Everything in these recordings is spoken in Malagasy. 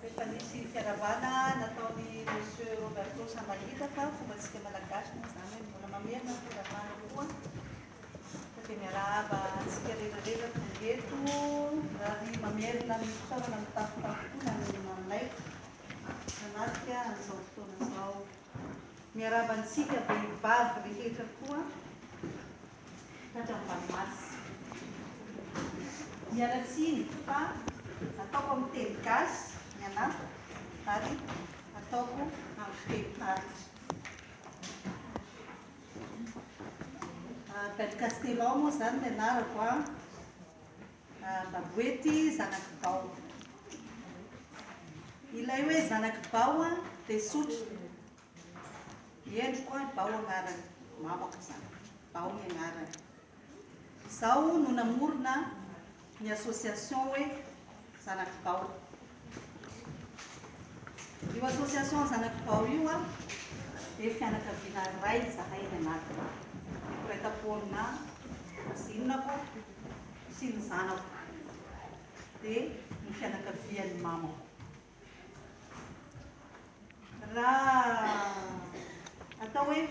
Rehefa nisy firavana nataon'i Monsieur Roberto Samahita fa fombantsika Malagasy moa izany hoe mbola mamerina ny firavana koa fa dia miarahaba antsika rehetra rehetra tonga eto ary mamerina ny fitaovana mitafotafo koa na ny manaiky hanatrika an'izao fotoana izao. Miarahaba antsika vehivavy rehetra koa tatravoanomaty. Miala tsiny fa ataoko amin'ny teny gasy ny anatiko ary ataoko amin'ny fiteny tarika. Bel Castelao moa izany ny anarako an. Baboety zanak'i Bao. Ilay hoe zanak'i Bao an, dia sotra. I endriko an, Bao agnarany. Mamako izany. Bao ny agnarany. Izaho no namorona ny association hoe zanak'i Bao. Io association zanak'i Bao io an, dia fianakaviana iray izahay any anatiny. Mpiray tam-po aminà kaozinako sy ny zanako, dia ny fianakavian'ny mamako. Raha atao hoe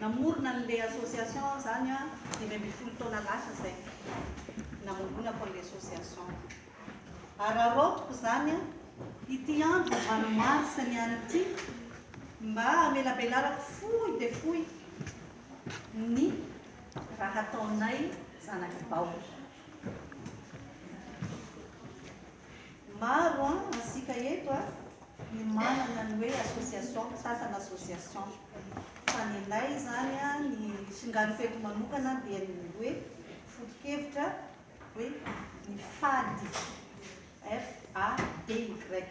namorona an'ilay association aho izany an, dimy ambin'ny folo taona lasa izay namoronako an'ilay association. Araraotiko izany an, ity andro valo mars ny any ity mba hamelabelarako fohy dia fohy ny raha ataonay zanak'i Baoba. Maro an isika eto a no manana ny hoe association sasany association fa ny anay izany a ny singano feto manokana dia ny hoe foto-kevitra hoe ny fady F A D Y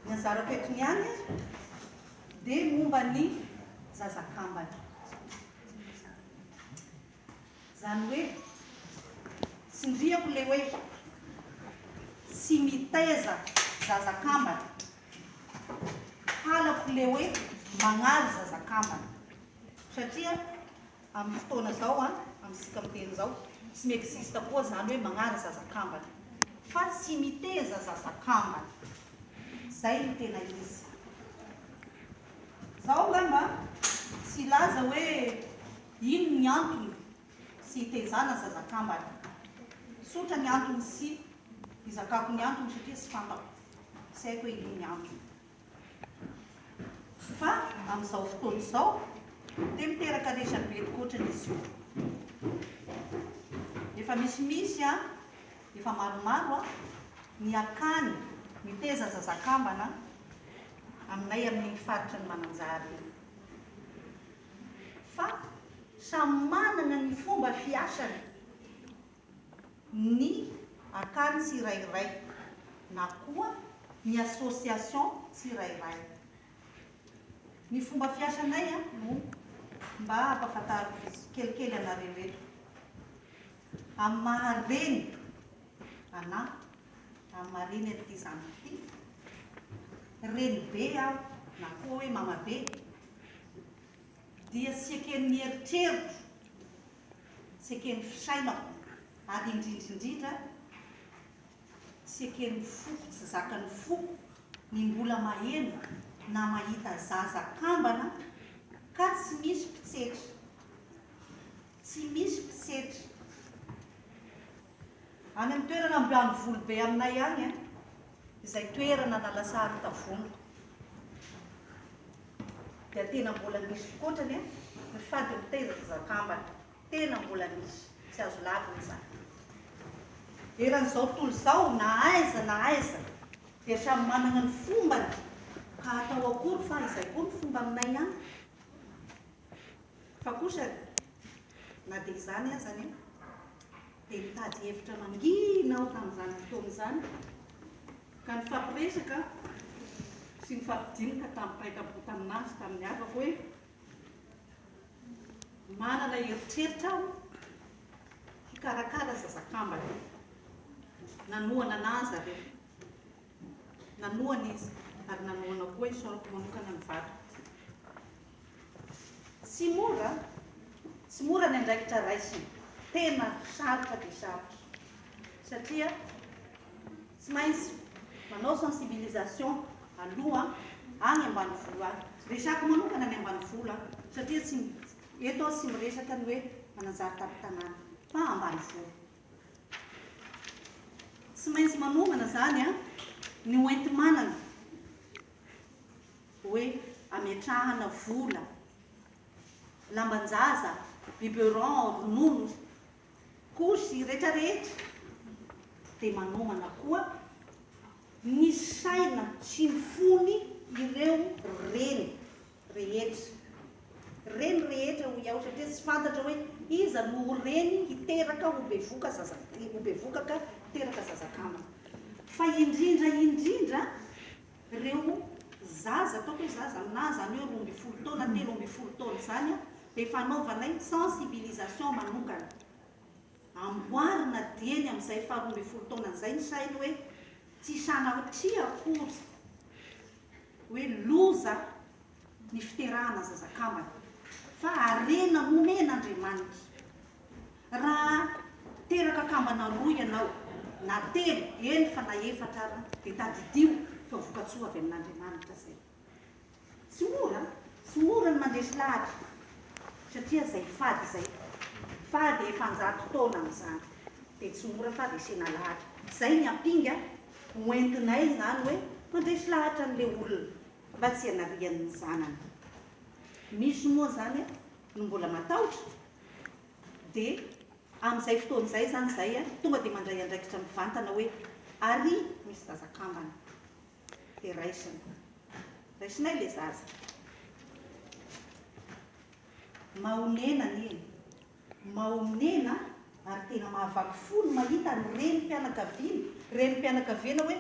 ny anjara fetony ihany a dia momba ny zazakambana Izany hoe tsindriako ilay hoe tsy mitaiza zaza kambana, halako ilay hoe mañaly zaza kambana satria amin'ny fotoana izao an, amintsika miteny izao tsy mi-existe koa izany hoe mañaly zaza kambana fa tsy miteza zaza kambana, izay no tena izy. Izaho angamba tsy hilaza hoe. Ino ny antony sy hitezana zaza kambana? Tsotra ny antony sy hizakako ny antony satria tsy fantako sy haiko hoe ino ny antony. Fa amin'izao fotoana izao dia miteraka resabe tokoa ohatrany izy io. Efa misimisy a, efa maromaro a, ny akany miteza zaza kambana aminay amin'iny faritra ny Mananjary iny. fa samy manana ny fomba fiasany ny akany tsirairay na koa ny association tsirairay. Ny fomba fiasanay no mba ampahafantariko tsikelikely anareo eto amin'ny maha reny anà, amin'ny maha reny an'ity zanako ity. Renibe aho na koa hoe mamabe. dia tsy eken'ny eritreriko, tsy eken'ny fisainako, ary indrindrindrindra tsy eken'ny foko, tsy zakan'ny foko ny mbola maheno na mahita zaza kambana ka tsy misy mpitsetra, tsy misy mpitsetra. Any amin'ny toerana ambianivolo be aminay any an, izay toerana na lasa aron-tavoana dia tena mbola misy fikotrany an, ny fady mitaiza ny zakambana, tena mbola misy, tsy azo lavina izany. Eran'izao tontolo izao, na aiza na aiza dia samy manana ny fombany, ka atao akory fa izay koa ny fomba aminay any. Fa kosa na dia izany aza anie dia nitady hevitra mangina aho tamin'izany fotoana izany ka nifampiresaka sy nifampidinina tamim-paikam-po tamin'azy tamin'ny havako hoe manana eritreritra aho hikarakara zazakambana. Nanohana an'azy aho. Nanohana izy, ary nanohana koa i Saoly manokana ny vadiny. Tsy mora, tsy mora ny andraikitra raisina. Tena sarotra dia sarotra. Satria tsy maintsy manao sensibilisation aloha any ambanivolo any. Resako manokana ny ambanivolo an, satria tsy, eto aho tsy miresaka ny hoe mananjary tampon-tanàna, fa ambanivolo. Tsy maintsy manomana izany ny hoenti-manana hoe ametrahana vola, lamban-jaza, biberon, ronono, couche rehetra rehetra dia manomana koa ny saina sy ny fony ireo reny. rehetra. Reny rehetra hoy aho satria tsy fantatra hoe iza no ho reny hiteraka ho bevoka zaza ho bevokaka hiteraka zaza kamo. Fa indrindra indrindra ireo zaza ataoko hoe zaza na izany hoe roa ambin'ny folo taona telo ambin'ny folo taona izany dia efa anaovanay sensibilisation manokana. Amboarina dieny amin'izay faha roa ambin'ny folo taonany izay ny sainy hoe tsy sanatria akory. hoe loza ny fiterahana zaza kambana fa harena nomen Andriamanitra. Raha teraka kambana roa ianao na telo, eny fa na efatra ara dia tadidio fa vokatsoa avy amin Andriamanitra izay. Tsy mora, tsy mora ny mandresy lahatra satria izay fady izay, fady efa an-jato taona amin'izany dia tsy mora fa resena lahatra. Izay ny ampinga ho entinay izany hoe mandresy lahatra an'ilay olona mba tsy hanariany ny zanany. Misy moa izany a, no mbola matahotra, dia amin'izay fotoana izay izany izay a, tonga dia mandray andraikitra mivantana hoe ary misy zaza kambana, dia raisina. Raisinay ilay zaza. Mahonena anie e! Mahonena ary tena mahavaky fo ny mahita ny renim-pianakaviana, renim-pianakaviana hoe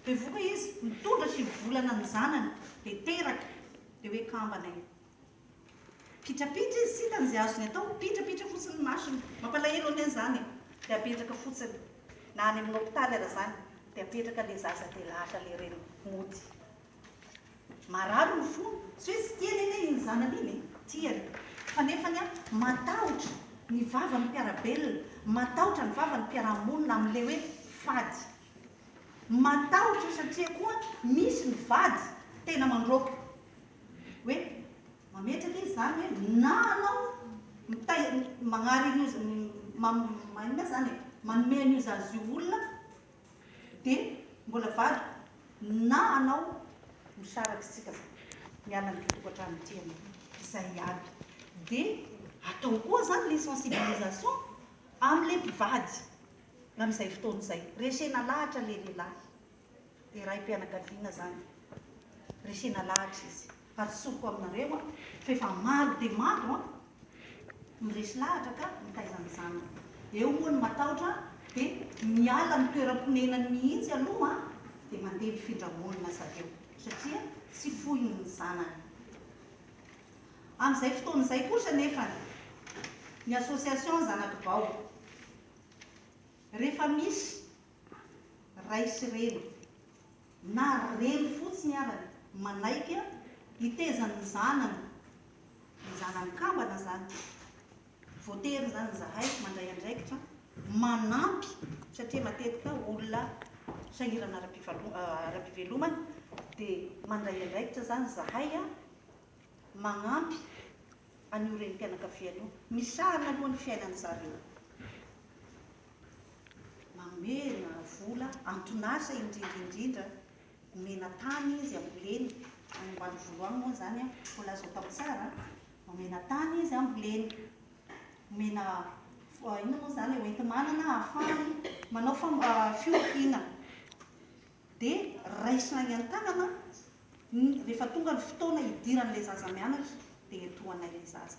bevoka izy mitondra sivy volana ny zanany dia teraka dia hoe kambana io. Pitrapitra izy tsy hitany izay azony atao, mipitrapitra fotsiny ny masony. Mampalahelo anie izany e! Dia apetraka fotsiny na any amin'ny hopitaly aza izany dia apetraka ilay zaza dia lasa ilay reny mody. Marary ny fony, tsy hoe tsy tiany anie iny zanany iny e, tiany, fa nefany an, matahotra ny vavan'ny mpiara-belona, matahotra ny vavan'ny mpiara-monina amin'ilay hoe fady. Matahotra io satria koa misy ny vady tena mandroaka hoe mametraka izy izany hoe na anao mitahy, magnary an'io, magnome an'io zaza io olona, Dia mbola vadiko na anao misaraka isika fa miala amin'ity tokantrano ity ianao. Izay aby. Dia atao koa izany ilay sensibilisation amin'ilay mpivady amin'izay fotoana izay. Resena lahatra ilay lehilahy, dia raim-pianakaviana izany, resena lahatra izy. ary tsoriko aminareo an, fa efa maro dia maro an, miresy lahatra ka mitaiza ny zanany eo moa ny matahotra dia miala amin'ny toeram-ponenany mihitsy aloha an, dia mandeha mifindra monina zareo satria tsy foiny ny zanany. Amin'izay fotoana izay kosa anefa ny association Zanakibao rehefa misy Ray sy reny, na reny fotsiny aza, manaiky hitezan' ny zanany ny zanany kambana izany. Voatery izany izahay mandray andraikitra manampy satria matetika olona sahirana ara-pivelomana dia mandray andraikitra izany izahay magnampy an'io renim-pianakaviana io, misahana aloha ny fiainan'ny zareo, mamena vola anton'asa indrindra indrindra, omena tany izy amboleny, any ambanivolo any moa izany an, mbola azo atao tsara an, omena tany izy amboleny, omena inona moa izany e, hoenti-manana ahafahany manao fiompiana. dia raisina any an-tanana ny rehefa tonga ny fotoana hidiran'ilay zaza mianatra dia entohanay ilay zaza.